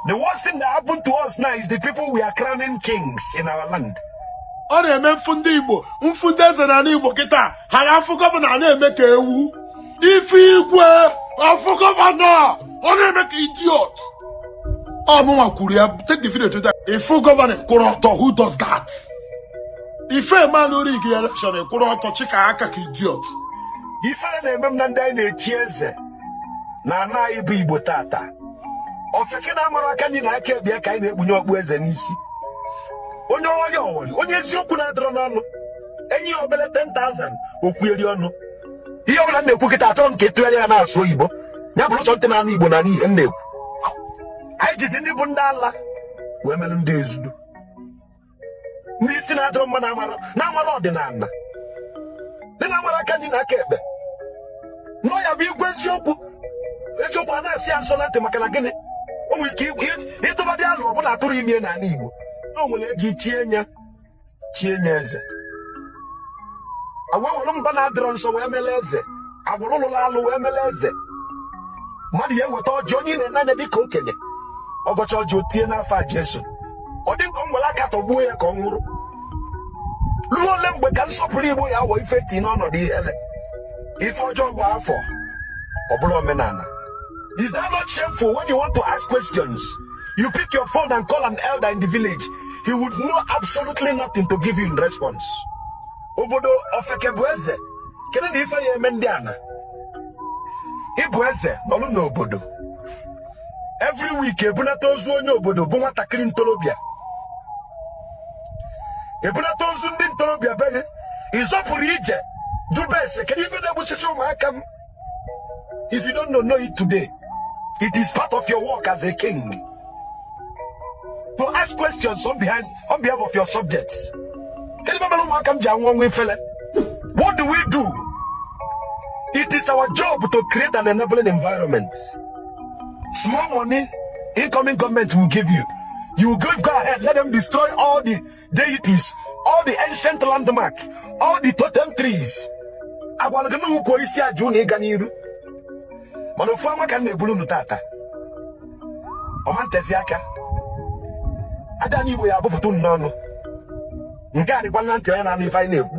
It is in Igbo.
The worst thing that happened to us now is the people we are crowning kings in our land. ọ na-eme m fụ ndị igbo m fụ ndị eze na igbo kịta ha na-afụ gọvanọ na-eme ka ewu ị fụ igwe afụ gọvanọ ọ na-eme ka idiot ọ mụnwa kwuru ya take the video to that ị fụ gọvanọ kwụrụ ọtọ who does that ife ị ma na ọ rig election kwụrụ ọtọ chika aka ka idiot ifele na-eme m na ndị anyị na-echi eze na ana anyị bụ igbo tata ofeke na-amarọ aka nri na aka ekpe ya ka anyị na-ekpunye okpu eze n'isi onye ọghọrị ọghọrị onye eziokwu na-adịrọ n'ọnụ e nye ya obele 10,000 o kwueri ọnụ ihe ọbụla m na-ekwu kịta achọrọ m ka ị tụgharịa ya na-asụ oyibo ya bụrụ sọ ntị na-anụ igbo na-anụ ihe m na-ekwu anyị jizi ndị bụ ndị ala wee mele ndị eze udo ndị isi na-adịrọ mma na-amarọ na-amarọ ọdịnala ndị na-amarọ aka nri na aka ekpe na ọ ya bụ igwe eziokwu eziokwu a na-asọ ya nsọ na ntị maka na gịnị o nwere ike ịtụbadị alụ ọbụla a tụrụ ime n'ala Igbo na o nwere ego ichie nya chie nya eze agwawụrụ mba na-adịrọ nsọ wee mele eze agbụrụ lụrụ alụ wee mele eze mmadụ ya eweta ọjị onye ị na-ene anya dịka okenye ọ gọcha ọjị o tie n'afa Jesu ọ dị m ka m were aka tọgbuo ya ka ọ nwụrụ ruo ole mgbe ka nsọpụrụ igbo ya abụ ife e tii n'ọnọdụ ihele ife ọjọọ gbaa afọ ọ bụlụ omenala is that not shameful when you want to ask questions you pick your phone and call an elder in the village he would know absolutely nothing to give you in response obodo ofeke bụ eze kedu na ife ya eme ndị ana ị bụ eze nọlụ n'obodo every week e bunata ozu onye obodo bụ nwatakịrị ntorobịa e bunata ozu ndị ntorobịa be gị ị zọpụrụ ije jụba ese kedu ife na-egbusisi ụmụaka m if you don't know it today it is part of your work as a king to ask questions on behind on behalf of your subjects kedu ife mere ụmụaka m ji anwụ ọnwụ ifele what do we do it is our job to create an enabling environment small money incoming government will give you you will give go ahead let them destroy all the deities all the ancient landmark all the totem trees a gwara gị na ukwu osisi a ji unu ịga n'iru mana ofu amụma ka m na-ebulu unu tata ọ ma ntezi aka aja ana igbo ya abụpụta unu n'ọnụ nke a dịkwa na ntị onye na-anụ ife anyị na-ekwu